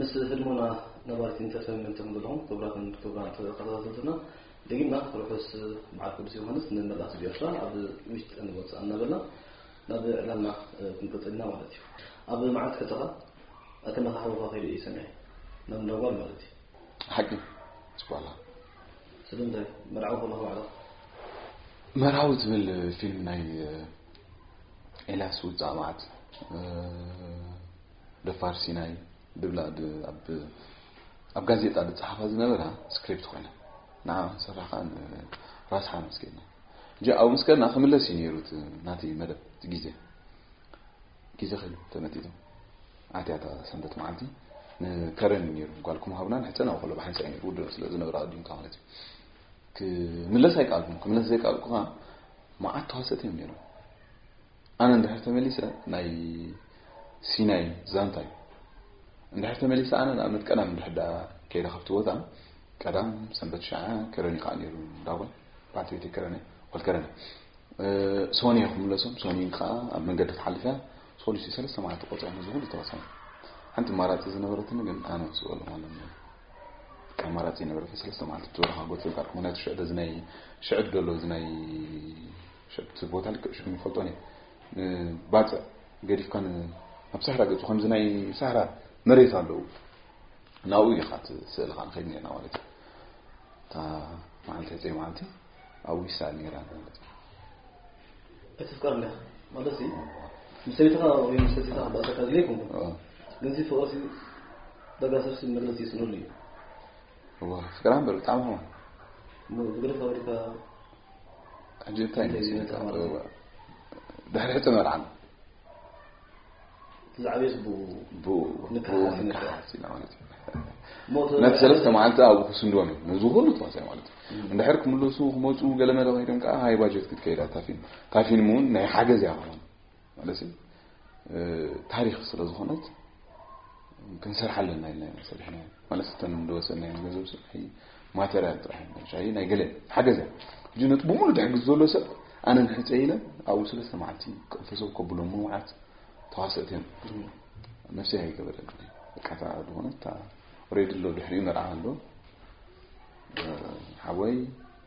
ምስ ህድሞና ነባሪት ኢንተርተይንመንት ተምልኹም ክቡራትን ክቡራን ተኸታተልትና ደጊምና ርሑስ በዓል ቅዱስ ዮሃንስ ንመላእ ህዝቢ ኤርትራ ኣብ ውሽጥን ወጻእን እናበልና ናብ ዕላልና ክንቅጽል ኢና ማለት እዩ ኣብ መዓልቲ ሕተኻ ኣተመኻኽሮኻ ከይደ እዩ ሰሚዐ ናብ እንዳጓል ማለት እዩ ሓቂ ጽቋላ ስለምንታይ መርዓዊ ከለኹ ባዕላ መርዓዊ ትብል ፊልም ናይ ኤልያስ ውጻእ መዓት ደፋር ሲናይ ድብላ ኣብ ኣብ ጋዜጣ ዝጸሓፋ ዝነበራ ስክሪፕት ኮይና ንዓ ክንሰርሕ ከዓ ራስሓ ምስ ከድና እጂ ኣብኡ ምስ ከድና ክምለስ እዩ ነይሩ ናተይ መደብ እቲ ግዜ ግዜ ከ ተመጢጡ ኣትያታ ሰንበት መዓልቲ ንከረን እዩ ነይሩ ጓልኩም ሃብና ንሕፀን ኣብ ከሎ ብሓንሳ እዩ ነይሩ ውድእ ስለ ዝነበረ ኣዲምካ ማለት እዩ ክምለስ ኣይከኣልኩም ክምለስ ዘይከኣልኩ ከዓ መዓት ተዋሰት እዮም ነይሮም ኣነ እንድሕር ተመሊሰ ናይ ሲናይ ዛንታ እዩ እንድሕር ተመሊሰ ኣነ ንኣብነት ቀዳም እንድሕር ዳኣ ከይደ ካብቲ ቦታ ቀዳም ሰንበት ሸዓ ከረኒ ከዓ ነይሩ እንዳጓል በዓልቲ ቤተይ ከረኒ ጓል ከረኒ ሶኒ እየ ክምለሶም ሶኒ ከዓ ኣብ መንገዲ ትሓልፍ እያ ሶሉሲ ሰለስተ መዓልቲ ቆፅያ ነዚ ኩሉ ተወሳኒ ሓንቲ ማራፂ ዝነበረትኒ ግን ኣነ ክስበሉ ማለት ነው ኣማራፂ ነበረ ሰለስተ መዓልቲ ብትበረኻ ጎት ዘጋር ምክንያቱ ሽዕደ እዚ ናይ ሽዕድ ደሎ እዚ ናይ ሸብ እቲ ቦታ ልክዕ ሽሙ ይፈልጦ ኔር ንባጽዕ ገዲፍካ ናብ ሳህራ ገጹ ከምዚ ናይ ሳህራ መሬት ኣለዉ ናብኡ ኢኻ እቲ ስእልኻ ንኸይድ ኔርና ማለት እዩ እታ መዓልቲ ዕፀ መዓልቲ ኣብኡ ይሰኣል ኔራ ማለት እዩ እቲ ፍቃድ ኔኻ ማለት እዩ ምስ ሰበይትኻ ወይ ምስ ሰቲኻ ክበኣሰካ ድለ ይኮንኩ ግን እዚ ፍቕሪ ዳጋ ሰብሲ መግለፂ ይስእነሉ እዩ እወ ፍቅራም በል ብጣዕሚ ኸማ ብግደ ፈሪካ ሕጂ እንታይ ድሕሪ ሕቶ መርዓን ዝዓበየ ዝቡ ንክሓሓሲና ማለት እዩ ነቲ ሰለስተ መዓልቲ ኣብኡ ክስንድዎም እዩ ነዚ ኩሉ ተዋሳኢ ማለት እዩ እንድሕር ክምለሱ ክመፁ ገለ መለ ኮይዶም ከዓ ሃይ ባጀት ክትከይዳ ታፊን ታፊን እውን ናይ ሓገዝ እያ ክኾን ማለት ታሪክ ስለ ዝኮነት ክንሰርሓ ኣለና ኢልና ኢና ሰሪሕና ማለት እተን ዝወሰድናዮ ገንዘብ ናይ ማተርያል ጥራሕ ሻይ ናይ ገለ ሓገዘ ሕጂ ነቲ ብምሉእ ዝሕግዝ ዘሎ ሰብ ኣነ ንሕፀ ኢለ ኣብኡ ስለስተ መዓልቲ ቅንፈሰብ ከብሎ ምውዓት ተዋሰእት እዮም ነፍሲ ኣይገበረኒ በቃታ ዝኾነት ሬድ ኣሎ ድሕሪኡ መርዓ ኣሎ ሓወይ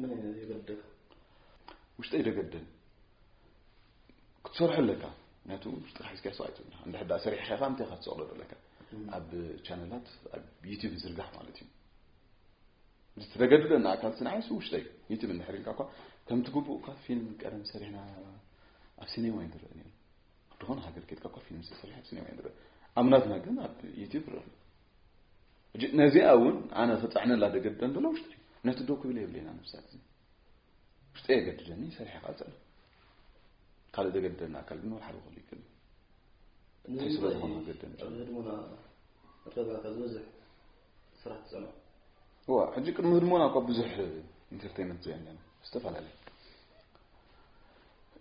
መን እዩ ነዚ ይበደል ውሽጠይ ደገደን ክትሰርሖ ኣለካ ምክንያቱ ጥራሕ ስኪያ ሰው ኣይትብላ እንድሕ ዳ ሰሪሕካ ኢኻ እንታይ ኢኻ ትሰቕሎ ዘለካ ኣብ ቻነላት ኣብ ዩቲብ ዝርጋሕ ማለት እዩ ዝተገድደና ኣካል ስንዓይሱ ውሽጠይ ዩቲብ እንድሕር ኢልካ እኳ ከምቲ ግቡእ እኳ ፊልም ቀደም ሰሪሕና ኣብ ሲኔማ እዩ ዝረአ ነይሩ ድኾነ ሃገር ኬድካ እኳ ፊልም ዝተሰርሐ ኣብ ሲኔማ እዩ ዝረአ ኣብ ናትና ግን ኣብ ዩቲብ ረአ ነዚኣ እውን ኣነ ክፀዕነላ ደገድደ እንተሎ ውሽጢ ነቲ ዶ ክብል የብለና ነብሳት እዚ ውሽጢ የገድደኒ ሰሪሐ ካልፀለ ካልእ ዘገድደና ኣካል ግን ሓደ ክሉ ይክእል እንታይ ስለ ዝኾነ ገደን እዋ ሕጂ ቅድሚ ህድሞና እኳ ብዙሕ ኢንተርቴንመንት ዘየለና ዝተፈላለዩ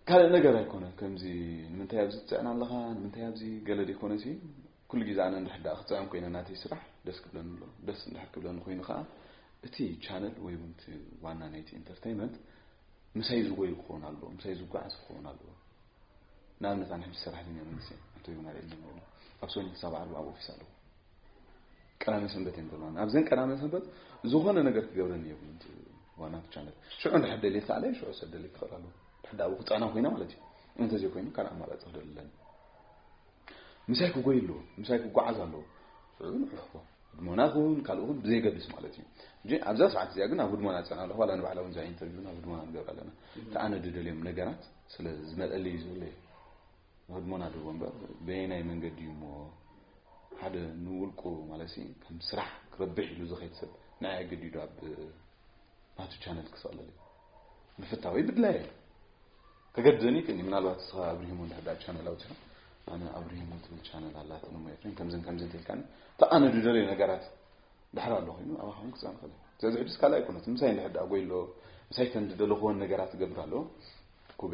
ካልእ ነገር ኣይኮነ ከምዚ ንምንታይ ኣብዚ ትፅዕና ኣለኻ ንምንታይ ኣብዚ ገለ ዘይኮነ ሲ ኩሉ ግዜ ኣነ እንድሕር ደኣ ክጽዕም ኮይነ ናተይ ስራሕ ደስ ክብለኒ ኣሎ። ደስ እንድሕር ክብለኒ ኮይኑ ከኣ እቲ ቻነል ወይ እውን እቲ ዋና ናይቲ ኢንተርተይመንት ምሳይ ዝጎይ ክኸውን ኣለዎ፣ ምሳይ ዝጓዓዝ ክኸውን ኣለዎ። ንኣብነት ኣነ ሕጂ ሰራሕተኛ መንግስቲ እየ፣ ኣቶ ዮናል ዕድመ ኣለዎ። ካብ ሰኞ ክሳብ ዓርቢ ኣብ ኦፊስ ኣለዎ። ቀዳመ ሰንበት እየን ዘለዋኒ። ኣብዘን ቀዳመ ሰንበት ዝኾነ ነገር ክገብረኒ የብሉን እቲ ዋና እቲ ቻነል። ሽዑ እንድሕር ደልየ ክሳዕለየ ሽዑ ሰብ ደልየ ክኽእል ኣለዎ። ድሕር ደኣ ኣብኡ ክጽዕና ኮይነ ማለት እዩ። እንተዘይኮይኑ ካልእ ኣማራጺ ክደሊ ኣለኒ። ምሳይ ክጎይ ኣለዎ ምሳይ ክጓዓዝ ኣለዎ ንሕልኽዎ ህድሞና ኹን ካልእ ኹን ብዘይገድስ ማለት እዩ እንጂ ኣብዛ ሰዓት እዚኣ ግን ኣብ ህድሞና ፀና ኣለኹ ዋላ ንባዕላ እውን እዛ ኢንተርቪው ናብ ህድሞና ንገብር ኣለና ከኣነ ድደልዮም ነገራት ስለ ዝመጠለ እዩ ዝብለ እዩ ንህድሞና ድቦ እምበር በየናይ መንገዲ እዩ እሞ ሓደ ንውልቁ ማለት ከም ስራሕ ክረብሕ ኢሉ ዝኸይድ ሰብ ንዓይ ኣገዲዱ ኣብ ናቱ ቻነል ክስቕለል እዩ ምፍታወይ ብድላይ እዩ ከገድደኒ ይክእል ምናልባት እስኻ ኣብርሂሞ እንድሕዳ ቻነል ኣውፂኻ ኣነ ኣብርሂሞ ትብል ቻነል ኣላትን እሞ ኤፍሬም ከምዝን ከምዝን ትልካኒ ተኣነ ድደለዩ ነገራት ድሕር ኣሎ ኮይኑ ኣብ ኣኻውን ክፃ ንኽእል ስለዚ ሕድስ ካልእ ኣይኮነት ምሳይ እንድሕዳ ጎይሎ ምሳይ ተን ድደለኹዎን ነገራት ትገብር ኣሎ ኩበ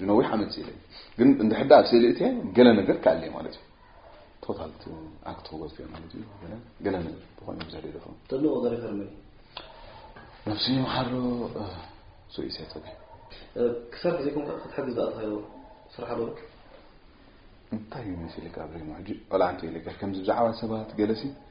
ዝነዊሕ ዓመት ስኢለ ግን እንድሕር ኣብ ስእሊ እትየ ገለ ነገር ክኣልየ ማለት እዩ ቶታል ኣክት ክጎት እዮ ማለት እዩ ገለ ነገር ብኮነ ብዙሕ ደደፈ ተድንቆ ገረከር መን ነብሲ ይምሓሮ ሱኢሰ ጠቢ ክሳብ ግዜ ኮንካ ክትሕግዝ ዝኣትካዮ ስራሕ ኣሎ እንታይ እዩ መሲልካ ኣብለይ ሕጂ ቆልዓ እንተይለካ ከምዚ ብዛዕባ ሰባት ገለሲ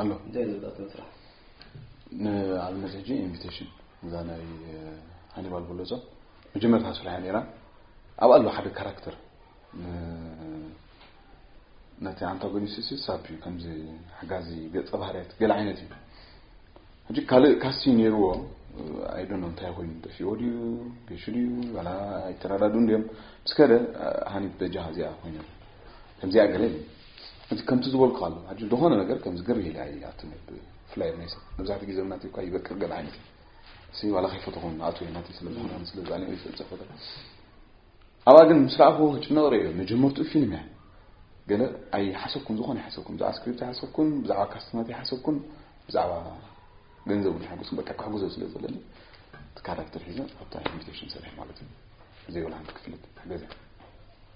ኣሎ እንታይ ዝብላት መስራሕ ንኣብነት ሕጂ ኢንቪቴሽን እዛ ናይ ሃኒባል በለጾ መጀመርታ ስራሕያ ነይራ ኣብ ኣሎ ሓደ ካራክተር ነቲ ኣንታጎኒስት ሳብ እዩ ከምዚ ሓጋዚ ገፀ ባህርያት ገለ ዓይነት እዩ ሕጂ ካልእ ካሲ ነይርዎ ኣይዶኖ እንታይ ኮይኑ ጠፊዎ ድዩ ገሹ ድዩ ዋላ ኣይተረዳድኡን ድዮም ምስ ከደ ሃኒት በጃ እዚኣ ኮይነ ከምዚኣ ገለ እዩ እቲ ከምቲ ዝበልኩ ኣሎ ሕጂ ዝኾነ ነገር ከምዚ ግር ኢላ ይኣቱ ብፍላይ ናይ ሰብ መብዛሕትኡ ግዜ ናት እኳ ይበቅር ገለ ዓይነት እሲ ዋላ ከይፈተኹ ናቱ ናት ስለ ዝኾነ ስለ ዛኒ ይፍል ዘፈተ ኣብኣ ግን ምስ ረኣኹ ክጭነቕ ርእዮ መጀመርትኡ ፊልም እያ ገለ ኣይሓሰብኩን ዝኾነ ይሓሰብኩን ብዛዕባ ስክሪፕት ይሓሰብኩን ብዛዕባ ካስትናት ይሓሰብኩን ብዛዕባ ገንዘብ ንሓጎስኩም በቃ ክሕግዞ ስለ ዘለኒ እቲ ካራክተር ሒዘ ኣብታ ኢንቪቴሽን ሰሪሕ ማለት እዩ ዘይብላ ሓንቲ ክፍልት ገዛ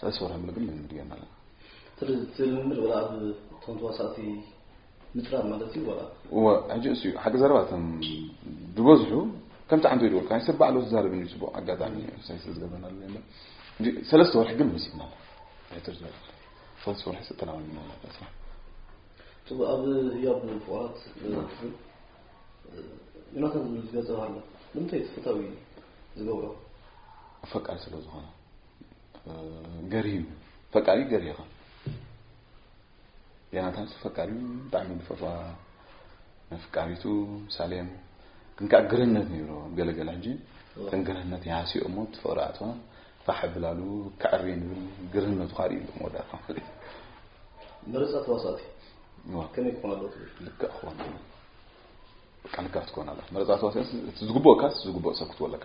ሰለስተ ወርሒ ምሉእ ግን ልምምድ ጌርና ኣለና እቲ ልምምድ ወላ ኣብ እቶም ተዋሳእቲ ምፅራብ ማለት እዩ ወላ እወ ሕጂ እሱ እዩ ሓቂ ዘረባ እቶም ዝበዝሑ ከምቲ ዓንተ ይድበልካ ሰብ ባዕሉ ዝዛረብ እዩ ፅቡቅ ኣጋጣሚ ሳይ ስለ ዝገበና ሰለስተ ወርሒ ግን ወሲድና ሕትር ዝበለ ሰለስተ ወርሒ ዝተላመድና ስራሕ ጥቡ ኣብ ህያብ ፍቅራት ዮናታን ዝብል ዝገፀ ኣሎ ንምንታይ ተፈታዊ ዝገብሮ ፈቃድ ስለ ዝኾነ ገርሂ ፈቃሪ ገርሂ ኢኻ ዮናታንስ ፈቃሪ ብጣዕሚ ዝፈትዋ መፍቃሪቱ ሳሌም ግን ከዓ ግርህነት ነይሮ ገለገለ ሕጂ ተን ግርህነት ይሃስዮ እሞ ትፍቅሪ ኣትዋ ፋሕ ብላሉ ከዕሪ ንብል ግርህነቱ ካሪ ኢሉ መወዳእታ ማለት እዩ ምርፀ ተዋሳእቲ ከመይ ክኾን ኣለዎ ትብል ልክዕ ክኾን ኣለዎ ልክዕ ክትኮን ኣለካ መረፃ ተዋሳእቲ እቲ ዝግብኦካስ ዝግብኦ ሰብ ክትወለካ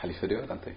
ሓሊፈ ዲዮ ኣንታይ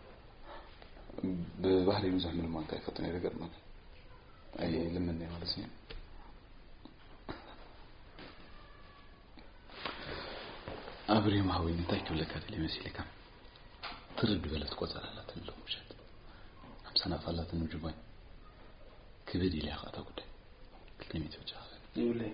ብባህሪ ብዙሕ ምልማን ካይፈቱ ነይረ ገርመን ኣይ ልምን ነይ ማለት እዩ ኣብሪም ሃዊን እንታይ ክብለካ ደልየ መሲልካ ትርድ በለት ቆፀር ኣላት ኣሎ ምሸት ሓምሳ ናፍ ኣላት ንምጅባኝ ክብድ ኢልያ ከኣታ ጉዳይ ክልተ ሚት ብቻ ይብለይ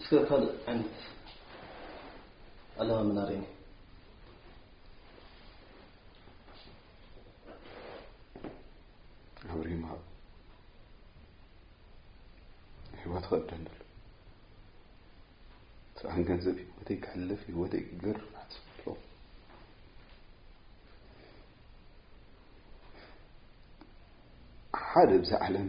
እስከ ካልእ ዓይነት ኣለማምና ርእኒ ኣብሪ ምሃብ ህይወት ክቕደም ደሎ ስራሕን ገንዘብ ህይወተይ ክሕልፍ ህይወተይ ክገር ሓስብሎ ሓደ ብዛ ዓለም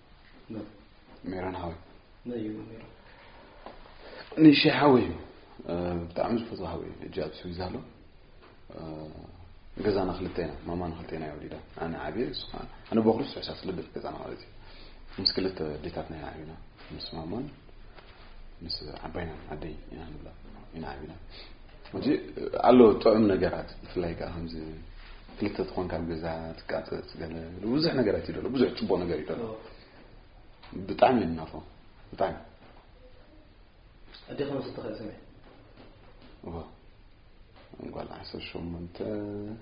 ሜሮን ሓወይ ንሸ ሓወይ ብጣዕሚ ዝፈትዎ ሓወይ ሕጂ ኣብ ስዊዝ ኣሎ ገዛና ክልተ ኢና ማማ ንክልተ ኢና ወሊዳ ኣነ ዓብየ ንሱ ከዓ ኣነ በኩሪ ስዑሳ ስልብት ገዛና ማለት እዩ ምስ ክልተ ዴታትና ኢና ዓብና ምስ ማማን ምስ ዓባይና ዓደይ ኢና ንብላ ኢና ዓብና ሕጂ ኣሎ ጥዑም ነገራት ብፍላይ ከኣ ከምዚ ክልተ ትኾን ካብ ገዛ ትቃጽጽ ገለ ብዙሕ ነገራት ይደሎ ብዙሕ ጽቡቕ ነገር ይደሎ ብጣዕሚ ይናፎ ብጣዕሚ ኣዴኻ ምስ ትኽእል ስመ ጓል ዓሰርተ ሸሞንተ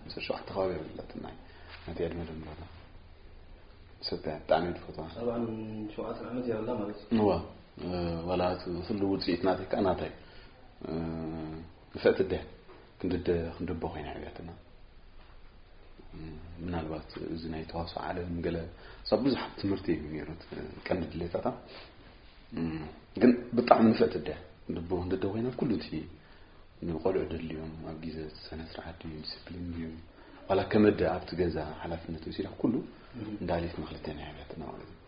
ዓሰርተ ሸውዓተ ከባቢ የብለትና ነቲ ዕድመ ድምበራ ሰብያ ብጣዕሚ ትፈትዋ ኣርባዕን ሸውዓተን ዓመት የብላ ማለት እዩ ዋላ እቲ ኩሉ ውፅኢት ናተይ ከዓ ናታይ ንፍዕቲ ኣደ ክንድደ ክንድቦ ኮይና ዕብያትና ምናልባት እዚ ናይ ተዋስኦ ዓለም ገለ ሰብ ብዙሓት ትምህርቲ እዩ ነይሩ ቀንዲ ድሌታታ ግን ብጣዕሚ ንፍዕቲ ኣደ ክንድቦ ክንድደ ኮይና ኩሉ እቲ ንቆልዑ ደልዮም ኣብ ግዜ ስነ ስርዓት ድዩ ዲስፕሊን ድዩ ዋላ ከመደ ኣብቲ ገዛ ሓላፍነት ወሲዳ ኩሉ እንዳሊት መክልተን ዕብያትና ማለት እዩ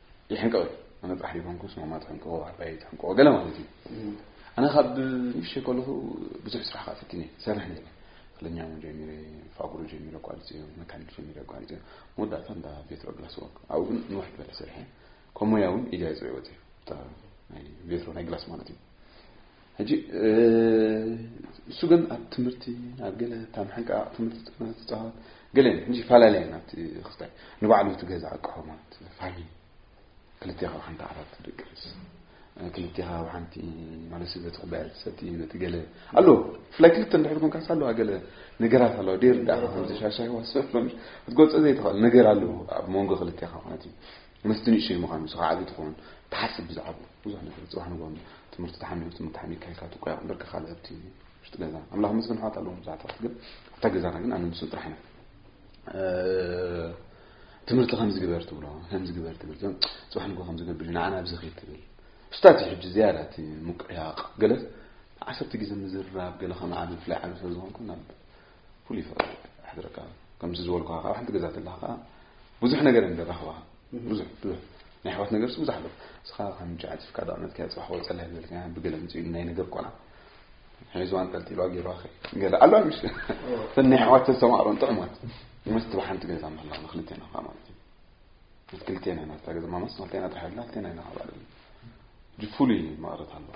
ይሕንቀቕ እዩ ኣነ ጥራሕ ዘይኮንኩስ ማማ ትሕንቀቆ ኣባይ ትሕንቀቆ ገለ ማለት እዩ ኣነ ካብ ንእሽተይ ከለኹ ብዙሕ ስራሕ ከዓ ፈቲነ ይሰርሕ ነይረ ክለኛ እውን ጀሚረ ፋብሮ ጀሚረ ኣቋሪፀዮ መካኒክ ጀሚረ ኣቋሪፀዮ መወዳእታ እንዳ ቬትሮ ግላስ ወርክ ኣብኡ ግን ንውሕ ዝበለ ሰሪሐ ከም ሞያ እውን ኢደይ ኣፅሪዕዎ እተ ናይ ቬትሮ ናይ ግላስ ማለት እዩ ሕጂ እሱ ግን ኣብ ትምህርቲ ኣብ ገለ እታ ምሕንቃቕ ትምህርቲ ጥቅና ትፃወት ገለን ሕጂ ይፈላለያ ናብቲ ክስታይ ንባዕሉ እቲ ገዛ ኣቅሖ ማለት ፋሚሊ ክልቴኻ ብሓንቲ ዓራት ትደቅስ ክልቴኻ ብሓንቲ ማለት በቲ ኩባያ ትሰቲ ነቲ ገለ ኣሎ ብፍላይ ክልተ እንድሕር ኮንካስ ኣለዋ ገለ ነገራት ኣለዋ ደይር ዳኣ ከምዚ ሻሻይ ዋሰ ክትገልፆ ዘይትኽእል ነገር ኣለዎ ኣብ መንጎ ክልቴኻ ማለት እዩ ምስቲ ንእሽተይ ምዃኑ ዝኸዓቢ ትኸውን ትሓስብ ብዛዕብኡ ብዙሕ ነገር ጽባሕ ንግሆ ትምህርቲ ተሓሚሙ ትምህርቲ ተሓሚካ ኢልካ ትቆያቕ እምበርካ ካልእ ኣብቲ ውሽጢ ገዛ ኣምላኽ መስገን ኣሕዋት ኣለዎም ብዙሓት ኣሕዋት ግን ኣብታ ገዛና ግን ኣነ ንሱ ጥራሕ ኢና ትምህርቲ ከምዚ ግበር ትብሎ ከምዚ ግበር ትብል እዞም ጽባሕ ንግሆ ከምዚ ገብር ንዓና ኣብዚ ኺድ ትብል ስታት እዩ ሕጂ ዝያዳ እቲ ምቅያቕ ገለ ዓሰርተ ግዜ ምዝራብ ገለ ከም ዓብ ብፍላይ ዓብ ስለዝኾንኩ ናብ ፍሉይ ፍቕሪ ኣሕድረካ ከምዚ ዝበልኩኻ ካብ ሓንቲ ገዛ ተለኻ ከዓ ብዙሕ ነገር እንደራኽባ ብዙሕ ብዙሕ ናይ ኣሕዋት ነገር ብዙሕ ኣሎ እስኻ ከም ጨዓት ፍቃድ ኣመትካ ፅባሕ ወፀላ ይብልካ ብገለ ምፅኡ ናይ ነገር ቆልዓ ሒዙዋ ኣንጠልጢሏ ገይሩዋ ገለ ኣሎ ምሽ እተን ናይ ኣሕዋት ተሰማዕሮን ጥዑማት መስቲ ብሓንቲ ገዛ ምህላ ንክልቴና ከዓ ማለት እዩ ምስ ክልቴና ኢና ዝታ ገዛ ማመስ ንክልቴና ጥራሕ ኣላ ክልቴና ኢና ክባል ፍሉይ መቕረት ኣለዋ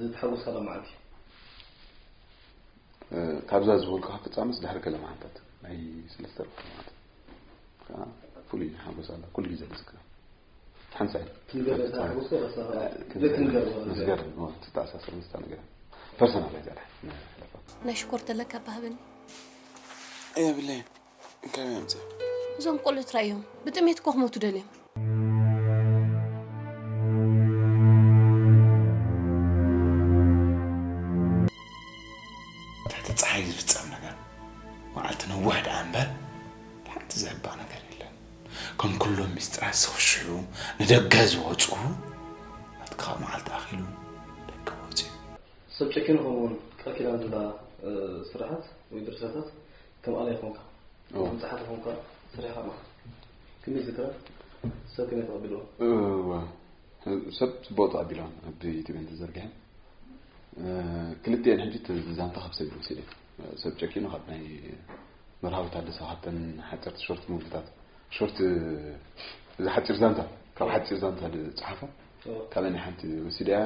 ዝተሓጎስካላ መዓልቲ ካብዛ ዝበልኩ ፍጻመስ ድሕሪ ገለ መዓልታት ናይ ሰለስተ ርብዓ መዓልቲ ከዓ ፍሉይ ሓጎስ ኣላ ኩሉ ግዜ ዝዝክራ ሓንሳ ዝገር ተተኣሳሰር ምስታ ነገር ፐርሰናል እያ ናይ ሽኮር ተለካ ባህብኒ የብለይን እንታይ እዮም እዚኦም? እዞም ቆልዑ ትራይ እዮም ብጥሜት እኮ ክሞቱ ደልዮም ትሕቲ ፀሓይ ዝፍፀም ነገር መዓልቲ ነዋሕ ደኣ እምበር ሓንቲ ዘህባ ነገር የለን ከም ኩሎም ምስጢራት ዝኽሽሑ ንደገ ዝወፁ ናትካ መዓልቲ ኣኺሉ ደገ ወፅኡ ሰብ ጨኪኑ ከምኡውን ቃል ኪዳን ዝብላ ስራሓት ወይ ድርሰታት ከም ኣላይ ኮንካ ከም ጸሓፊ ኮንካ ስሪሕካ ኣለካ ክንደይ ዝክረ ሰብ ከመይ ተቐቢልዎ ሰብ ጽቡቕ ተቐቢሎም ኣብ ኢትዮጵያን ተዘርጊሐን ክልቲኤን ሕጂ ዛንታ ካብ ሰብ ይወሲደ ሰብ ጨኪኑ ካብ ናይ መርሃዊ ታደሰ ካብተን ሓፀርቲ ሾርት ሙቪታት ሾርት እዚ ሓፂር ዛንታ ካብ ሓፂር ዛንታ ዝፀሓፎ ካብን ሓንቲ ወሲደያ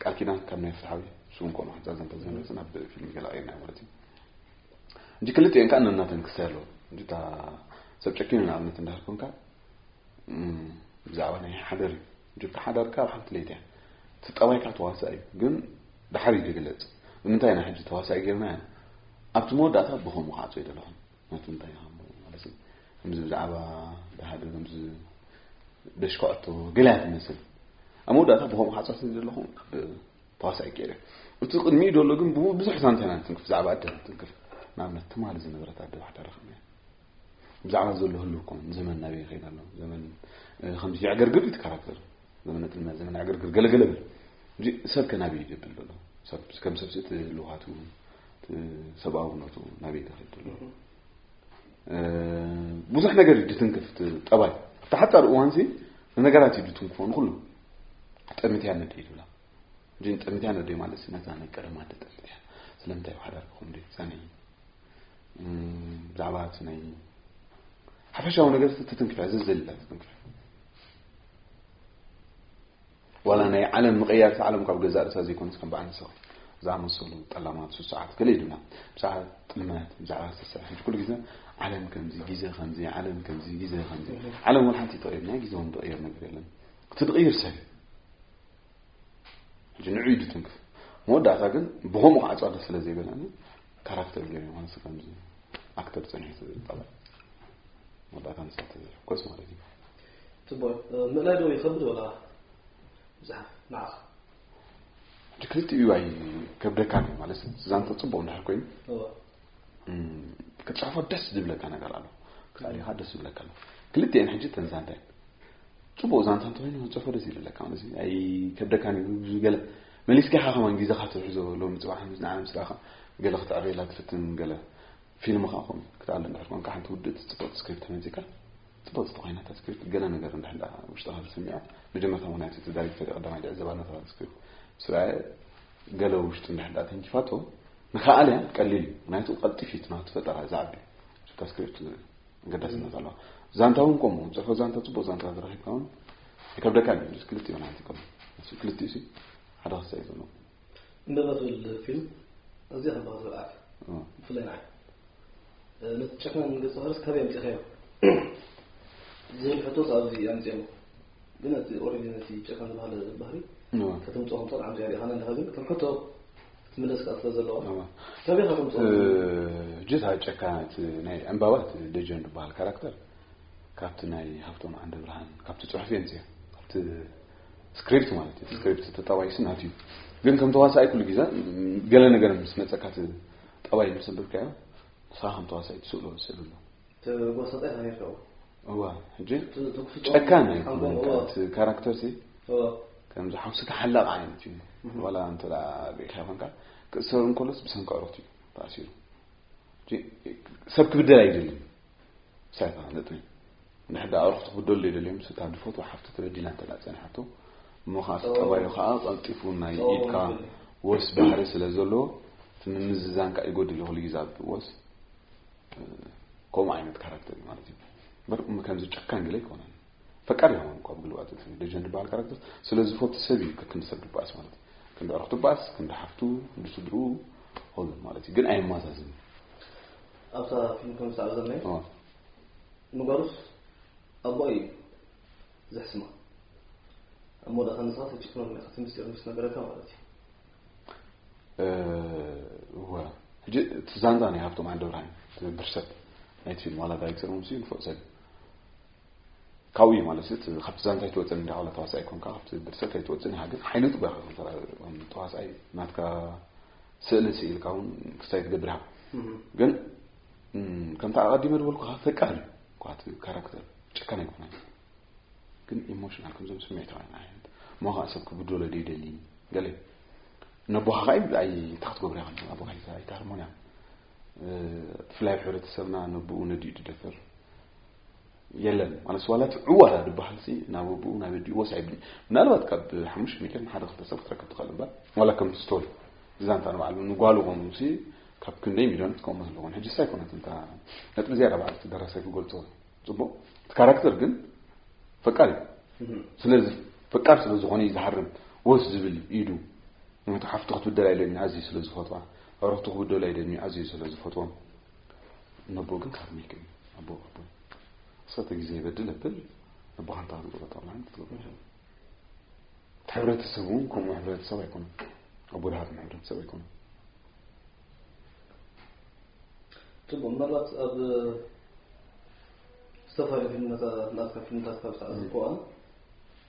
ቃል ኪዳን ካብ ናይ ፍትሓዊ ስም ኮኖ ሕንፃ ዘንተ ዘነፅን ኣብ ፊልም ገላቀና ማለት እዩ እንጂ ክልጥኤን ከዓ ነናተን ክሳይ ኣለዎ እንጂ እታ ሰብ ጨኪኑ ንኣብነት እንዳህር ኮንካ ብዛዕባ ናይ ሓደር እዩ እንጂ እታ ሓዳር ከዓ ኣብ ሓንቲ ለይቲ እያ እቲ ጠባይ ከዓ ተዋሳእ እዩ ግን ድሓር እዩ ዝግለፅ ንምንታይ ኢና ሕጂ ተዋሳኢ ገርና ኣብቲ መወዳእታ ብከምኡ ክዓፆ ይደለኹም ናቱ እንታይ ይሃሞ ማለት እዩ ከምዚ ብዛዕባ ባህሊ ከምዚ ደሽካዖቶ ገለ እያ ትመስል ኣብ መወዳእታ ብኸምኡ ሓፀርቲ ዘለኹ ተዋሳኢ ገይረ እቲ ቅድሚኡ ዘሎ ግን ብዙሕ ዛንታ ኢና ንትንክፍ ብዛዕባ ኣደ ንትንክፍ ንኣብነት ትማሊ ዝነበረት ኣደ ባሕዳ ረኽብና ብዛዕባ ዘሎ ህሉ እኮ ዘመን ናበይ ይኸይድ ኣሎ ዘመን ከምዚ ዕገርግር እዩ ትካራክተር ዘመነ ጥልመት ዘመነ ዕገርግር ገለገለ ብል ሰብ ከናበይ ይገብል ዘሎ ሰብ ከም ሰብሲ እቲ ህልውሃቱ ሰብኣውነቱ ናበይ ተኸይዱ ኣሎ ብዙሕ ነገር እዩ ድትንክፍ ጠባይ ኣብቲ ሓፃር እዋን ሲ ንነገራት እዩ ድትንክፎ ንኩሉ ጠሚትያ ነደ ይብላ እን ጠሚትያ ነደ ማለት ነዛ ናይ ቀደማ ደ ጠሚትያ ስለምንታይ ሓዳር ክኹም ደ ዛነ ብዛዕባ እቲ ናይ ሓፈሻዊ ነገር ትትንክፍያ ዘዘልላ ትትንክፍያ ዋላ ናይ ዓለም ምቕያር እቲ ዓለም ካብ ገዛእ ርእሳ ዘይኮነስ ከም በዓል ንስኺ ዝኣመሰሉ ጠላማት ስሱዓት ገለ ይብሉና ብዛዕባ ጥልመት ብዛዕባ ዝተሰር ሕጂ ኩሉ ግዜ ዓለም ከምዚ ግዜ ከምዚ ዓለም ከምዚ ግዜ ከምዚ ዓለም ወላ ሓንቲ ትቕይር ናይ ግዜ እውን ትቕይር ነገር የለን እቲ ዝቕይር ሰብ እዩ ሕጂ ንዑ ኢዱ ትንክፍ መወዳእታ ግን ብኸምኡ ከዓ ጸዋደ ስለ ዘይበለኒ ካራክተር ገይሩ ይኾንስ ከምዚ ኣክተር ጽንሒት ጠባይ መወዳእታ ንሳ ተዘሕኮስ ማለት እዩ ፅቡቅ ምእላይ ዶ ይከብድ ወላ ምፅሓፍ ንዓካ ክልቲኡ ኣይከብደካን እዩ ማለት ዛንታ ፅቡቅ እንድሕር ኮይኑ ክትፅሕፎ ደስ ዝብለካ ነገር ኣሎ ክሳሪኻ ደስ ዝብለካ ኣሎ ክልቲኤን ሕጂ ተን ዛንታ እየን ፅቡቅ ዛንታ እንተኮይኑ ክትፅሕፎ ደስ ይብለካ ማለት ኣይከብደካን እዩ ብዙ ገለ መሊስካ ኢኻ ከማን ግዜኻ ትሕዞ ሎሚ ፅባሕ ንዓና ምስ ዳኻ ገለ ክትዕበየላ ትፍትን ገለ ፊልም ካ ኮም ክትኣለ እንድሕር ኮንካ ሓንቲ ውድእቲ ፅብቅቲ ስክሪፕት መፂካ ጽቡቕ ጽቡቕ ዓይነት ኣስክሪፕት ገለ ነገር እንድሕር ደኣ ውሽጥኻ ዝስምዖ መጀመርታ ምኽንያቱ እቲ ዳይሬክተር ቀዳማይ ዝዕዘባ ነታ ስክሪፕት ምስ ረኣየ ገለ ውሽጡ እንድሕር ደኣ ተንኪፋቶ ንክኣል እያ ቀሊል እዩ ምክንያቱ ቀልጢፍ እዩ ናቱ ፈጠራ ዝዓቢ እታ ስክሪፕት ገዳስነት ኣለዋ ዛንታ እውን ከምኡ ፅሑፎ ዛንታ ፅቡቅ ዛንታ ዝረኪብካ እውን ይከብደካ እዩ ክልቲኡ ዓይነት ይከም ክልቲኡ ሓደ ክሳ እዩ ዘለዎ እንበትብል ፊልም ኣዝያ ከበቕ ዝብላዕ ብፍላይ ንዓይ ነቲ ጨካን ገጸ ባህርስ ካበይ ኣምጺእካዮ ዝብል ሕቶስ ኣብዚ ኣምጺኦሞ ግን እቲ ኦልሬዲ ነቲ ጨካን ዝበሃለ ባህሪ ከተምጽኦ ከም ትኽእል ዓምጺኣ ሪኢኻና ኣለኻ ግን ከም ሕቶ ትምለስ ከዓ ስለ ዘለዋ ካበይ ኢኻ ተምጽኦ ጅታ ጨካናት ናይ ዕምባባት ደጀን ዝበሃል ካራክተር ካብቲ ናይ ሃብቶም ዓንደ ብርሃን ካብቲ ጽሑፍ የምጽኦ ካብቲ ስክሪፕት ማለት እዩ ስክሪፕት ተጣባይ ስናት እዩ ግን ከም ተዋሳኣይ ኩሉ ግዜ ገለ ነገር ምስ መጸካ ጠባይ ምስ ኣንብብካዮ ንስኻ ከም ተዋሳኣይ ትስእሎ ስእሊ ኣሎ ተጓሳጣይ ተኸይርከቡ እዋ ሕጂ ጨካን እዩ ካራክተር ሲ ከምዚ ሓውሲ ተሓላቕ ዓይነት እዩ ዋላ እንተ ርኢኻ ይኾንካ ክእሰር እንከሎስ ብሰንኪ ዕሮት እዩ ተኣሲሩ ሰብ ክብደል ኣይደልን ሳይ ተፋለጥኒ ንሕድ ኣዕሩኽቲ ክብደሉ የደልዮም ስታ ድፈትዋ ሓፍቲ ተበዲላ እንተ ጸኒሓቶ እሞ ከዓ እቲ ጠባዩ ከዓ ቀልጢፉ ናይ ኢድካ ወስ ባህሪ ስለ ዘለዎ እቲ ምምዝዛን ከዓ ይጎድል ኩሉ ግዜ ኣብ ወስ ከምኡ ዓይነት ካራክተር እዩ ማለት እዩ እምበር ከምዚ ጨካን ግለ ኣይኮነን ፈቃድ ይኸውን እኳ ብግልባጥ እንትን ደጀን ዝበሃል ካራክተር ስለ ዝፈቱ ሰብ እዩ ከክንዲ ሰብ ድበኣስ ማለት እዩ ክንዲ ዕረኽ ድበኣስ ክንዲ ሓፍቱ ክንዲ ስድርኡ ሆሉን ማለት እዩ ግን ኣየማዛዝን ኣብታ ፊልም ከም ዝሰዕብ ዘለኒ اه ንጓሉስ ኣቦ እዩ ዘሕስማ እሞ ደኻ ንስኻ ተጭክመሉ ኢኻ እቲ ምስጢር ምስ ነገረካ ማለት እዩ እወ ሕጂ እቲ ዛንታ ናይ ሃብቶም ዓንደብርሃን ትነብር ሰብ ናይቲ ፊልም ዋላ ዳይሬክተር ምስ እዩ ንፎእ ሰብ ካብኡ እዩ ማለት እቲ ካብቲ ዛንታ ኣይትወፅን እንዳ ዋላ ተዋሳኢ ኮንካ ካብቲ ድርሰት ኣይትወፅን ኢኻ ግን ሓይሊ ጥበኻ ከም ተዋሳኢ ናትካ ስእሊ ስኢልካ እውን ክሳይ ትገብር ኢኻ ግን ከምቲ ኣቐዲመ ዝበልኩ ካብ ፈቃር እዩ ኳቲ ካራክተር ጨካን ኣይኮነ ግን ኢሞሽናል ከምዞም ስምዒታዊ ዓይነት እሞ ከዓ ሰብ ክብደሎ ዶ ይደሊ ገለ ነቦኻ ከዓ ይብል ኣይ እንታይ ክትገብሩ ኢኻ ኣቦኻ ኣይትሃርሞን እያ ብፍላይ ኣብ ሕብረተሰብና ነብኡ ነዲኡ ድደፈር የለን ማለት ዋላ እቲ ዕዋላ ዝበሃል ሲ ናብ ኣቡኡ ናብ ኣዲኡ ወስ ኣይብልን ምናልባት ካብ ሓሙሽተ ሚልዮን ንሓደ ክልተ ሰብ ክትረክብ ትኽእል እምበር ዋላ ከምቲ ስቶሪ ዛንታ ንባዕሉ ንጓሉ ኮኑ ሲ ካብ ክንደይ ሚልዮን ትከሙ ኣለኹን ሕጂ ሳ ኣይኮነት እንታ ነጥቢ ዝያዳ በዓል እቲ ደራሳይ ክገልጾ ጽቡቕ እቲ ካራክተር ግን ፈቃር እዩ ስለዚ ፈቃር ስለ ዝኾነ እዩ ዝሃርም ወስ ዝብል ኢዱ ምክንያቱ ሓፍቱ ክትብደል ኣይደልኒ ኣዝዩ ስለ ዝፈትዋ ኣረኽቱ ክብደሉ ኣይደልኒ ኣዝዩ ስለ ዝፈትዎም ነቦ ግን ካብ ሚክ ኣቦ ኣቦ ሰተ ግዜ ይበድል እብል ነቦኻ እንታ ክዝሮ ጠቕላን ክትገብሮ ይኽእል እቲ ሕብረተሰብ እውን ከምኡ ሕብረተሰብ ኣይኮነ ኣቦ ድሃትም ሕብረተሰብ ኣይኮነ ፅቡቅ ምናልባት ኣብ ዝተፈላለዩ ፊልምታት ናትካ ፊልምታት ካብ ዝተዓዘብኩ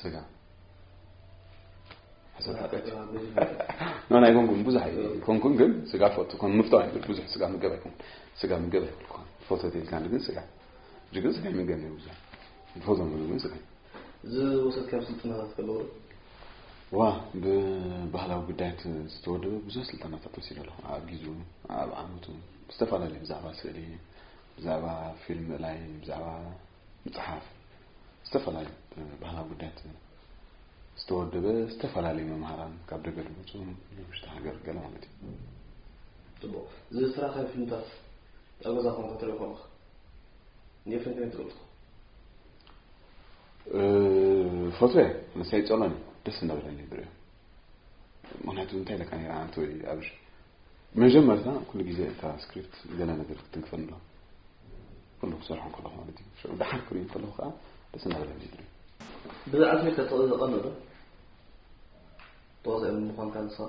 ስጋ ሕሰብ ሓጢኣት እዩ ናይ ኮንኩም ብዙሕ ኣይኮንኩም ግን ስጋ ፈቱ ከም ምፍቶ ኣይብል ብዙሕ ስጋ ምገብ ኣይኮን ስጋ ምገብ ኣይብል ኮን ፎቶ ተልካ ግን ስጋ እጅ ግን ስጋ ይምገብ ነይ ብዙሕ ፎቶ ምሉ ግን ስጋ ዝወሰድካዮም ስልጠናታት ከለዉ ዋ ብባህላዊ ጉዳያት ዝተወደበ ብዙሕ ስልጠናታት ወሲደ ኣለኹ ኣብ ግዙ ኣብ ዓመቱ ዝተፈላለዩ ብዛዕባ ስእሊ ብዛዕባ ፊልም ላይ ብዛዕባ ምፅሓፍ ዝተፈላለዩ ባህላዊ ጉዳያት ዝተወደበ ዝተፈላለዩ መምሃራን ካብ ደገ ድመፁ ንውሽጢ ሃገር ገለ ማለት እዩ ፅቡቅ እዚ ስራሕ ናይ ፊልምታት ኣብ ገዛ ኮንካ ትርኢ ኮንካ ንየፈን ከመይ ትገልፆ ፈትወ መሳይ ፀሎኒ ደስ እናበለኒ ብሪኦ ምክንያቱ እንታይ ለካ ነራ ኣንተ ወይ ኣብሽ መጀመርታ ኩሉ ግዜ እታ ስክሪፕት ገለ ነገር ክትንክፈን ኣሎ ኩሉ ክሰርሖ ከለኹ ማለት እዩ ሽዑ ደሓር ክርኢ ከለኹ ከዓ ደስ እናበለ ዝድሪ ብዛዕባ ከተቕኦ ዘቐንዶ ተዋሳኢ ምዃንካ ንስኻ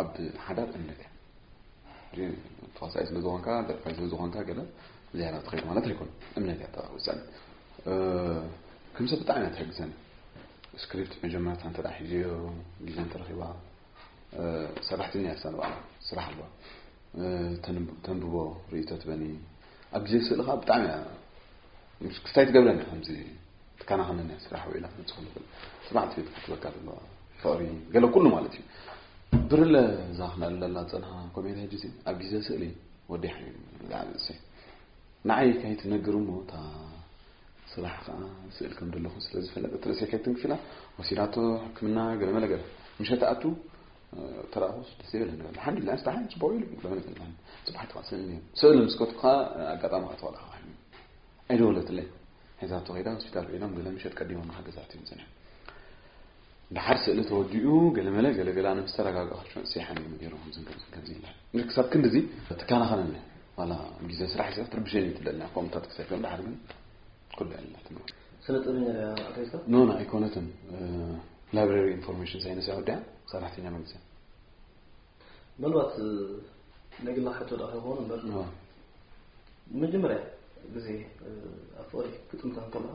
ኣብ ሓዳር እምነት እያ ተዋሳኢ ስለ ዝኾንካ ደርፋይ ስለ ዝኾንካ ገለ ዝያዳ ትኸይድ ማለት ኣይኮነ እምነት እያ ተውሰን ከም ሰብ ብጣዕሚ እያ ትሕግዘኒ ስክሪፕት መጀመርታ እንተ ሒዘዮ ግዜ እንተረኺባ ሰራሕተኛ እያ ክሳን በዓላ ስራሕ ኣለዋ ተንብቦ ርእቶ ትበኒ ኣብ ግዜ ስእልኻ ብጣዕሚ እያ ክስታይ ትገብረኒ ከምዚ ትከናኸነኒ እያ ስራሕ ውዒላ ክንፅኹ ንኽእል ፅናዕ ትዩ ትከትበካ ዘለዋ ፍቕሪ ገለ ኩሉ ማለት እዩ ብርለ እዛ ክነእለላ ፀንሃ ኮሜንት ሕጂ ሲ ኣብ ግዜ ስእሊ ወዲ ሓቢብ ዛዕባ እሰ ንዓይ ከይትነግር እሞ እታ ስራሕ ከዓ ስእል ከም ዘለኹ ስለ ዝፈለጠት ርእሰይ ከይትንክፊላ ወሲዳቶ ሕክምና ገለ መለ ገለ ምሸት ኣቱ ተራእኹስ ደስ ይብል ንብል ኣልሓምዱሊላ ስታ ሓን ፅቡቅ ኢሉ ለመነ ፅባሕ ተቃስል ስእል ምስ ከትኩካ ኣጋጣሚ ከተዋላ ኣይደወለትለይን። ሒዛቶ ከይዳ ሆስፒታል ውዒሎም ገለ ምሸት ቀዲሞም ንሓገዛት እዮም መጺኦም። ደሓር ስእሊ ተወዲኡ ገለመለ ገለገለ ኣነ ምስ ተረጋጋእኩ ሸንሲሓን እዮም ገይሮም ከምዚ ከምዚ ከምዚ ይላል እንግዲህ ክሳብ ክንድዚ ትከናኸነኒ ዋላ ግዜ ስራሕ ሒዛ ክትርብሸኒ እዩ ትደሊ ኣብ ኮምታት ክሰፊኦም ደሓር ግን ኩሉ ያለትና ስነ ጥበበኛ ድያ ኣርቲስታ ኖ ኖ ኣይኮነትን ላይብረሪ ኢንፎርሜሽን ሳይንስ እያ ወዲኣ ሰራሕተኛ መንግስቲ ምናልባት ናይ ግልና ሕቶ ደኣ ክኸውን እምበር መጀመርያ ግዜ ኣብ ፍቕሪ ክጥምታ ከለኻ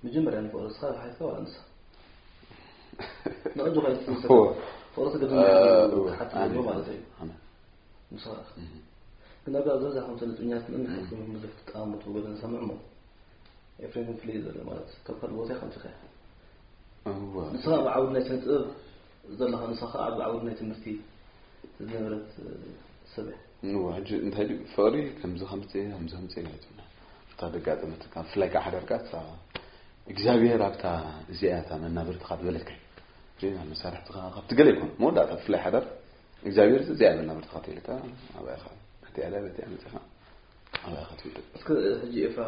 መጀመርያ ንፍቕሪ ንስኻ ሓትካ ዋላ ንሳ ንዕዱ ኸይት ፍቕሪ ትግድም ሓት ማለት እዩ ንስኻ ግን ኣብ ዝበዛ ከምቲ ንጥኛት ምን ሓትኩም ብዙሕ ትጠቃሙ ትብሎ ንሰምዕ ሞ ኤፍሬም ፍልይ ዘለ ማለት ካብ ካልእ ቦታ ከምቲ ኸያ ንስኻ ብዓውድ ናይ ስነ ጥበብ ዘለኻ ንሳ ከኣ ኣብ ዓውድ ናይ ትምህርቲ ዝነበረት ሰብ እያ። እወ ሕጂ እንታይ ድዩ ፍቕሪ ከምዚ ከምጽእ ከምዚ ከምጽእ ኢላ ኣይትብላን እታ ደጋጠመትካ ብፍላይ ከዓ ሓዳርካ እታ እግዚኣብሔር ኣብታ እዚኣ እታ መናብርትኻ ዝበለትካ እዩ ናብ መሳርሕትኻ ካብቲ ገለ ይኮን መወዳእታ ብፍላይ ሓዳር እግዚኣብሔር እዚኣ መናብርትኻ ተይልካ ኣብኣኻ በቲኣዳ በቲኣ መፅኻ ኣብኣኻ ትውድእ እስከ ሕጂ ኤፍራ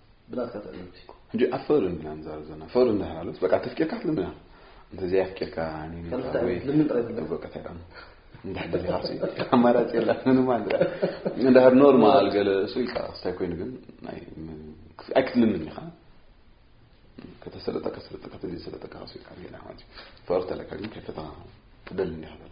ብናትካ ትዕዝብቲ ሕጂ ኣብ ፍቕሪ ኢና ንዛረብ ዘለና ፍቕሪ እንድሕር ኣሎስ በቃ ተፍቂርካ ትልምና እንተዘይ ኣፍቂርካ እንድሕር ደሊኻሲ ኣማራፂ የለን ምንም ኣንድራ እንድሕር ኖርማል ገለ እሱ ኢልካ ክስታይ ኮይኑ ግን ኣይክትልምን ኢኻ ከተሰለጠካ ሰለጠካ ተዘይሰለጠካ ከሲልካ ጌና ማለት እዩ ፍቕሪ ተለካ ግን ከይፈተኻ ትደሊ እንዲኻ ዘላ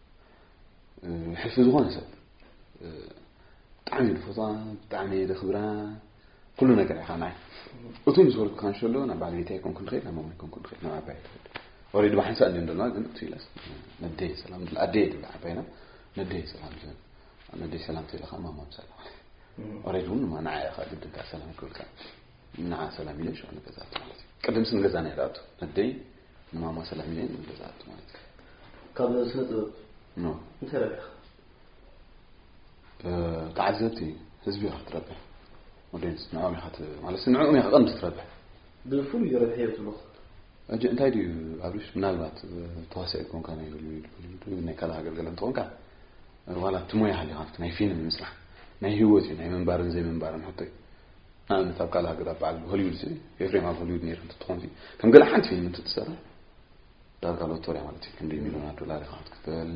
ሕልፊ ዝኾነ ሰብ ብጣዕሚ እየ ዝፈትዋ ብጣዕሚ እየ ዘኽብራ ኩሉ ነገር ኢኻ ናይ እቱ ምስ በልኩ ካን ሸሎ ናብ ባለቤት ኣይኮንኩ ንኽእል ናብ ማማይ ኮንኩ ንኽእል ናብ ዓባይ ትኽእል ኦሬዲ ብሓንሳእ እንደ እንደና ግን እቱ ኢላስ ነደየ ሰላም ድላ ኣደየ ድላ ዓባይና ነደየ ሰላም ዘን ነደየ ሰላም ትለኻ ማማም ሰላም ኦሬዲ እውን ማ ንዓ ኢኻ ግድንካ ሰላም ክብልካ ንዓ ሰላም ኢለ ሸ ንገዛት ማለት እዩ ቅድምሲ ንገዛ ናይ ዳኣቱ ነደይ ማማ ሰላም ኢለ ንብለዛት ማለት ካብ ስነ ጥበብ ኖ እንታይ ረብሕ ተዓዘብቲ ህዝቢ ኢኻ ክትረብሕ ኦዲየንስ ንዕኦም ኢኻ ማለት ንዕኦም ኢኻ ቀንዲ ክትረብሕ ብፍሉይ ረብሐ እዮ ትብሎ እጂ እንታይ ድዩ ኣብሽ ምናልባት ተዋሳኢ ኮንካ ናይ ሆሊውድ ሆሊውድ ናይ ካልእ ሃገር ገለ እንትኾንካ ዋላ እቲ ሞያ ሃሊኻ ናይ ፊልም ምስራሕ ናይ ህይወት እዩ ናይ ምንባርን ዘይምንባርን ሕቶ እዩ ንኣብነት ኣብ ካልእ ሃገራት በዓል ሆሊውድሲ ኤፍሬም ኣብ ሆሊውድ ነይሩ እንትትኾንሲ ከም ገለ ሓንቲ ፊልም እንትትሰርሕ ዳርጋ ሎቶሪያ ማለት እዩ ክንደይ ሚሊዮናት ዶላር ኢኻ ክትክፈል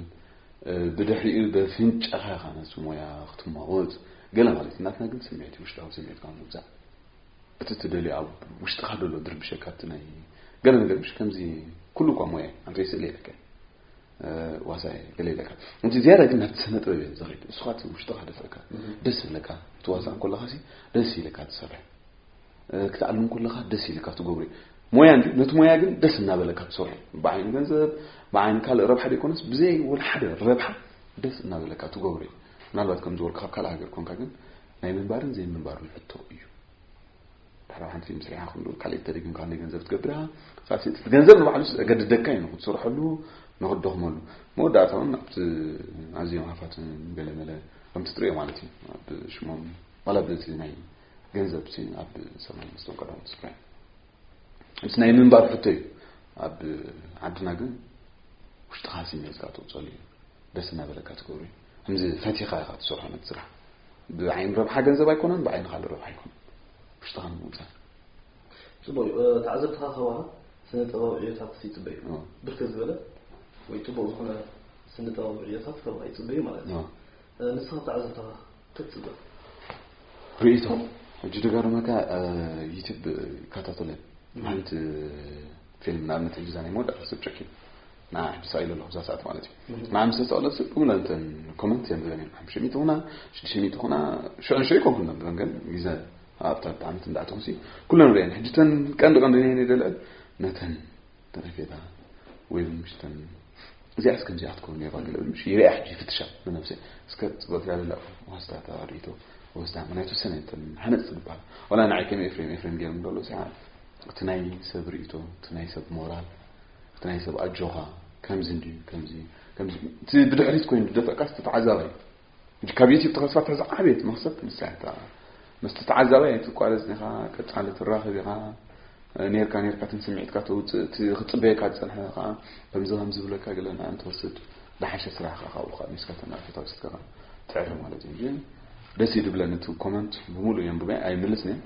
ብድሕሪኡ በፍንጫኻ ኢኻ ነቲ ሞያ ክትማወት ገለ ማለት እዩ ናትና ግን ስምዒት ውሽጣዊ ስምዒትካ ምውፃእ እቲ ትደልዮ ኣብ ውሽጥኻ ደሎ ድርብሸካ እቲ ናይ ገለ ነገር ምሽ ከምዚ ኩሉ እኳ ሞያ ኣንተይ ስእሊ የለካ ዋሳይ ገለ ይለካ እንጂ ዝያዳ ግን ናብቲ ስነ ጥበብ እየ ዝኸይድ ንስኻ እቲ ውሽጥኻ ደፍእካ ደስ ይብለካ ትዋሳእ ከለካ ሲ ደስ ይለካ ትሰርሕ ክትዓልም ከለካ ደስ ይለካ ትገብሪ ሞያ እንዲ ነቲ ሞያ ግን ደስ እናበለካ ትሰርሑ ብዓይኒ ገንዘብ ብዓይኒ ካልእ ረብሓ ደይኮነስ ብዘይ ወላ ሓደ ረብሓ ደስ እናበለካ ትገብሪ ምናልባት ከም ዝበልኩ ካብ ካልእ ሃገር ኮንካ ግን ናይ ምንባርን ዘይምንባርን ሕቶ እዩ ድሕሪ ሓንቲ ፊልም ስሪሓ ክሉ ካልእ ተደጊምካ ናይ ገንዘብ ትገብራ ካብቲ እቲ ገንዘብ ንባዕሉ ገድደካ እዩ ንክትሰርሐሉ ንክትደኽመሉ መወዳእታ እውን ኣብቲ ኣዝዮም ሃፋት ገለመለ ከምቲ ትሪኦ ማለት እዩ ኣብ ሽሞም ዋላ ብቲ ናይ ገንዘብ ኣብ ሰማይ ምስቶም ቀዳሞት ስፍራ ምስ ናይ ምንባር ሕቶ እዩ ኣብ ዓድና ግን ውሽጥኻ ስሜትካ ተውፀሉ እዩ ደስ እናበለካ ትገብሩ እዩ ከምዚ ፈቲኻ ኢኻ ትሰርሖ ነቲ ስራሕ ብዓይኒ ረብሓ ገንዘብ ኣይኮነን ብዓይኒ ካልእ ረብሓ ኣይኮነን ውሽጥኻ ንምውፃእ ፅቡቅ እዩ ተዓዘብትኻ ከዋሃብ ስነ ጥበብ ዕዮታት ይፅበዩ ብርክት ዝበለ ወይ ፅቡቅ ዝኾነ ስነ ጥበብ ዕዮታት ከባ ይፅበዩ ማለት እዩ ንስኻ ተዓዘብትኻ ክትፅበ ርእቶ ሕጂ ደጋርመካ ዩትብ ይከታተለ ሓንቲ ፊልም ንኣብነት ሕጂ ዛ ናይ መወዳእታ ሰብ ጨኪን ንዓይ ምስ ኢሉ ኣለኹ እዛ ሰዓት ማለት እዩ ንዓይ ምስ ተሰቕለት ብሙላ እንተን ኮመንት እዮም ዝብለን እዮም ሓሙሽተ ሚእቲ ኩና ሽዱሽተ ሚእቲ ኩና ሽዑ ንሽዑ ይኮንኩ ነብለን ግን ግዘ ኣብታ ብጣዕሚት እንዳእተኹሲ ኩለን ርእየን ሕጂ ተን ቀንዲ ቀንዲ ነየን ይደልዐን ነተን ተረፌታ ወይ ምሽተን እዚኣ እስከ ከምዚኣ ክትከውን ነይራ ገለ ምሽ ይሪኣ ሕጂ ይፍትሻ ንነብሰ እስከ ፅቡቅ ትላ ዘላ ወስዳ ተሪቶ ወስዳ ምክንያቱ ሰነ እንተን ሓነፅ ዝበሃል ዋላ ንዓይ ከም ኤፍሬም ኤፍሬም ገይሮም ደሎ ሰዓ እቲ ናይ ሰብ ርእቶ እቲ ናይ ሰብ ሞራል እቲ ናይ ሰብ ኣጆኻ ከምዚ እንድዩ ከምዚ ከምዚ እቲ ብድሕሪት ኮይኑ ዝደፍእካ እቲ ተዓዛባይ ሕጂ ካብ ዩቲብ ተኸስፋ ትሕዚ ዓብየት መኽሰብ ንሳ እታ መስቲ ተዓዛባይ ኣይትቋረፅን ኢኻ ቀፃሊ ትራኸብ ኢኻ ኔርካ ኔርካ እትን ስምዒትካ ተውፅእ እቲ ክፅበየካ ዝፀንሐ ከዓ ከምዚ ከም ዝብለካ ግለ ንኣን ትወስድ ዝሓሸ ስራሕካ ካብኡ ከዓ ሚስካ ተናእቶታት ስትከኻ ትዕረ ማለት እዩ ግን ደስ እዩ ድብለን እቲ ኮመንት ብምሉእ የንብበ ኣይምልስን እየ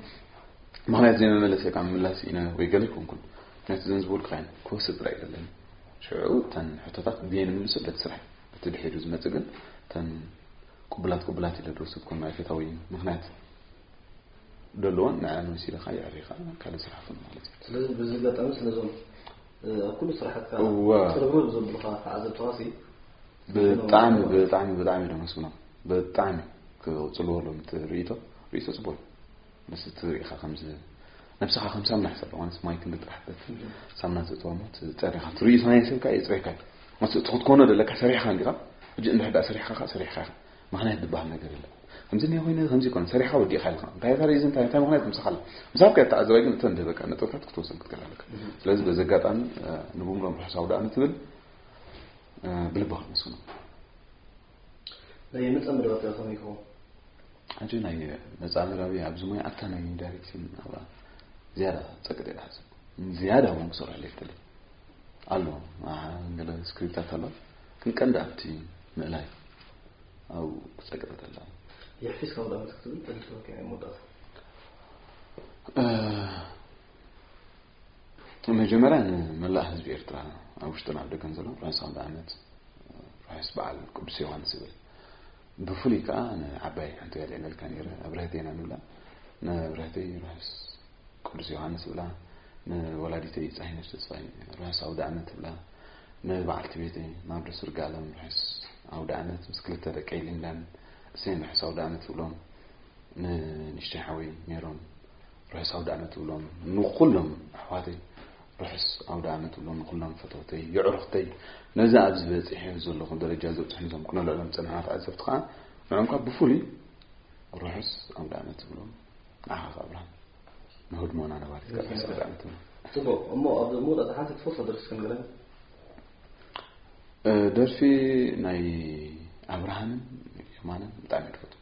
ምክንያት ዘይመመለሰ ካብ ምላስ ኢና ወይ ገለ ይኮንኩን ነቲ ዘንዝቡል ክራይም ክወስድ ጥራይ እዩ ዘለኒ ሽዑ እተን ሕቶታት ብየን ይምልሱ በቲ ስራሕ በቲ ድሒሩ ዝመጽእ ግን እተን ቅቡላት ቅቡላት ኢለ ድወስድ ኮን ናይ ፈታዊ ምክንያት ደለዎን ንዕን ወሲድኻ የዕሪኻ ካልእ ስራሕ ፍን ማለት እዩ ስለዚ በዚ ኣጋጣሚ ስለዞም ኣብ ኩሉ ስራሕትካ ጥርብርብ ዘብሉኻ ተዓዘብትኻሲ ብጣዕሚ ብጣዕሚ ብጣዕሚ ዶ መስግኖም ብጣዕሚ ክቅፅልዎ ሎም ርእቶ ርእቶ ፅቡቅ እዩ ምስ ትርኢ ኢኻ ከምዚ ነብስኻ ከም ሳምና ሕሰብ ማለት ማይ ክንዲ ጥራሕ ትደፍእ ሳምና ተእትዋ ሞት ፀሪኻ ትርእዩ ናይ ሰብካ የፅሬካ እዩ ማለት እቲ ክትኮኖ ዘለካ ሰሪሕካ እንዲኻ ሕጂ እንድሕር ዳኣ ሰሪሕካ ከዓ ሰሪሕካ ኢኻ ምክንያት ዝበሃል ነገር የለ ከምዚ እኒኦ ኮይነ ከምዚ ኮነ ሰሪሕካ ወዲእካ ኢልካ እንታይ ታሪእ እዚ እንታይ እንታይ ምክንያት ምሳኻ ኣለ ምሳብ ከ ተዓዘባይ ግን እተን ደበቃ ነጥብታት ክትወሰን ክትከል ኣለካ ስለዚ በዚ ኣጋጣሚ ንብምሎም ርሑስ ኣውዳእመት ትብል ብልባኻ መስግኖ ናይ መጻምድባ ከ ከመይ ይከውን? ሕጂ ናይ መጻምድባዊ ኣብዚ ሞያ ኣብታ ናይ ዳይሬክሽን ናብራ ዝያዳ ጸቅጥ እየ ዝሓስብ ዝያዳ እውን ክሰርሐሉ ይፍትል ኣሎ ገለ ስክሪፕታት ኣሎ ግን ቀንዲ ኣብቲ ምእላይ ኣብኡ ክጸቅጥ ተላ የሕፊስ ካብ ዳመት ክትብል ተልትወከ መወዳእታ መጀመርያ ንመላእ ህዝቢ ኤርትራ ኣብ ውሽጥን ኣብ ደገን ዘሎ ርሑስ ኣውደ ዓመት ርሑስ በዓል ቅዱስ ዮሃንስ ይብል ብፍሉይ ከዓ ንዓባይ ሓንቲ ጋል የለልካ ነይረ ኣብረህተ ኢና ንብላ ንኣብረህተይ ርሑስ ቅዱስ ዮሃንስ ብላ ንወላዲተይ ፀሂነሽ ተስፋይ ርሑስ ኣውደ ዓመት ብላ ንበዓልቲ ቤተይ ናብዶ ስርጋለም ርሑስ ኣውደ ዓመት ምስ ክልተ ደቀይ ሊንዳን እሰይን ርሑስ ኣውደ ዓመት ብሎም ንንሽተይ ሓወይ ሜሮን ርሑስ ኣውዳኣመት እብሎም ንኹሎም ኣሕዋተይ ርሑስ ኣውዳኣመት እብሎም ንኹሎም ፈተውተይ የዕሩኽተይ ነዛ ኣብዚ በፂሐ ዘለኹ ደረጃ ዘብፅሑ ዞም ክነልዕሎም ፀናሕና ተዓዘብቲ ከዓ ንዕንኳ ብፍሉይ ርሑስ ኣውዳኣመት እብሎም ንዓኻ ኣብርሃ ንህድሞና ነባሪት ርሑስ ኣውዳኣመት እብሎም ፅቡቅ እሞ ኣብ መውዳእታ ሓንቲ ትፈትፎ ደርፊ ክንግረን ደርፊ ናይ ኣብርሃምን የማንን ብጣዕሚ ትፈትው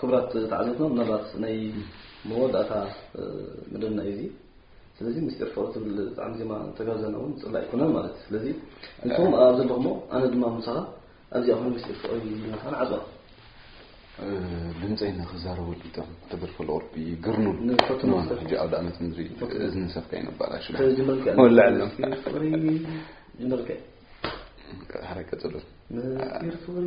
ክቡራት ተዓዘብትና ምናልባት ናይ መወዳእታ መደብና እዩ እዚ ስለዚ ምስጢር ፍቕሪ ትብል ጣዕሚ ዜማ ተጋብዘና እውን ፅላእ ኣይኮነን ማለት እዩ ስለዚ እንቶም ኣብ ዘለኹሞ ኣነ ድማ ምሳኻ ኣብዚኣ ኮይኑ ምስጢር ፍቕሪ ይልናኻ ንዓፅዋ ድምፀይ ንክዛረበሉ ይጠም ተደርፈሉ ቁርቢ ግርኑ ሕጂ ኣብ ዳኣመት ምድሪ እዝኒ ሰብካ ይነባላሽ ወላዕሎ ጀመርከ ሓረይ ቀፅሉ ምስጢር ፍቕሪ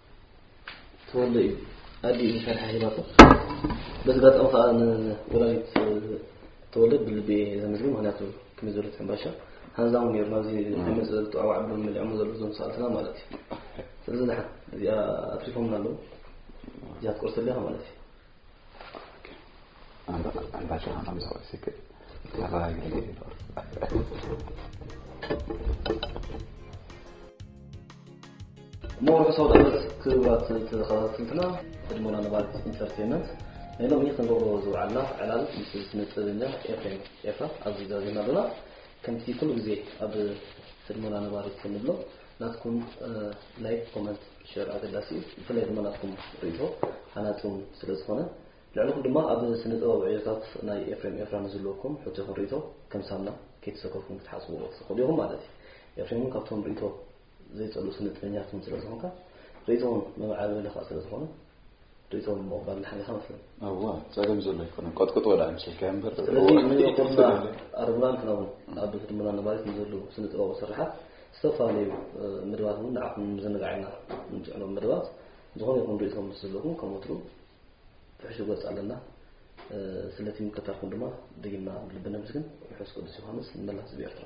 ተወልደ እዩ ኣዲኡ ንፈርሒ ሂባቶ በዚ ኣጋጣሚ ከዓ ንወላዲት ተወልደ ብልቢ ዘመስግን ምክንያቱ ክመይ ዘሎ ሕምባሻ ሃንዛሙ ነይሩ ናብዚ ሕመፅ ዝተዋዕ ብሎ መሊዖሞ ዘሎ ዞም ሰኣልትና ማለት እዩ ስለዚ ድሓን እዚኣ ኣትሪፎምና ኣለዉ እዚኣ ትቆርሰለካ ማለት እዩ ሞር ሰው ዳመት ክብራት ተኸታትልትና ቅድሞና ንባልት ኢንተርቴንመንት ናይ ሎሚ ክንገብሮ ዝውዓልና ዕላል ምስ ስነ ጥበበኛ ኤፍሬም ኤፋ ኣብዚ ዘርና ዶና ከምቲ ኩሉ ግዜ ኣብ ቅድሞና ነባሪት ንብሎ ናትኩም ላይክ ኮመንት ሸር ኣገዳሲ እዩ ብፍላይ ድማ ናትኩም ርእቶ ሃናጺ ውን ስለ ዝኾነ ልዕልኹም ድማ ኣብ ስነ ጥበብ ዕዮታት ናይ ኤፍሬም ኤፍራ ንዝለኩም ሕቶ ይኹን ርእቶ ከም ሳምና ከይተሰከፍኩም ክትሓጽብዎ ትኽእሉ ኢኹም ማለት እዩ ኤፍሬም ውን ካብቶም ርእቶ ዘይጸሉ ስነ ጥበኛት ውን ስለ ዝኾንካ ርእቶ ውን መምዓበሊ ከዓ ስለ ዝኾነ ርእቶም ምቕባል ንሓለኻ መስለን እዋ ፀገም ዘሎ ኣይኮነን ቆጥቅጦ ወደ ኣምሰልካዮ እምበር ስለዚ ንኹልና ኣርምናን ክናውን ኣብ ህድሞና ነባሪት ንዘሉ ስነ ጥበባዊ ስርሓት ዝተፈላለዩ መደባት እውን ንዓኹም ምዝንጋዕ ኢና ንምፅዕኖም መደባት ዝኾነ ይኹን ርእቶም ምስ ዘለኹም ከም ወትሩ ፍሕሹ ገፅ ኣለና ስለቲ ምከታልኩም ድማ ደጊምና ብልቢ ነምስግን ርሑስ ቅዱስ ዮሃንስ ንመላ ህዝቢ ኤርትራ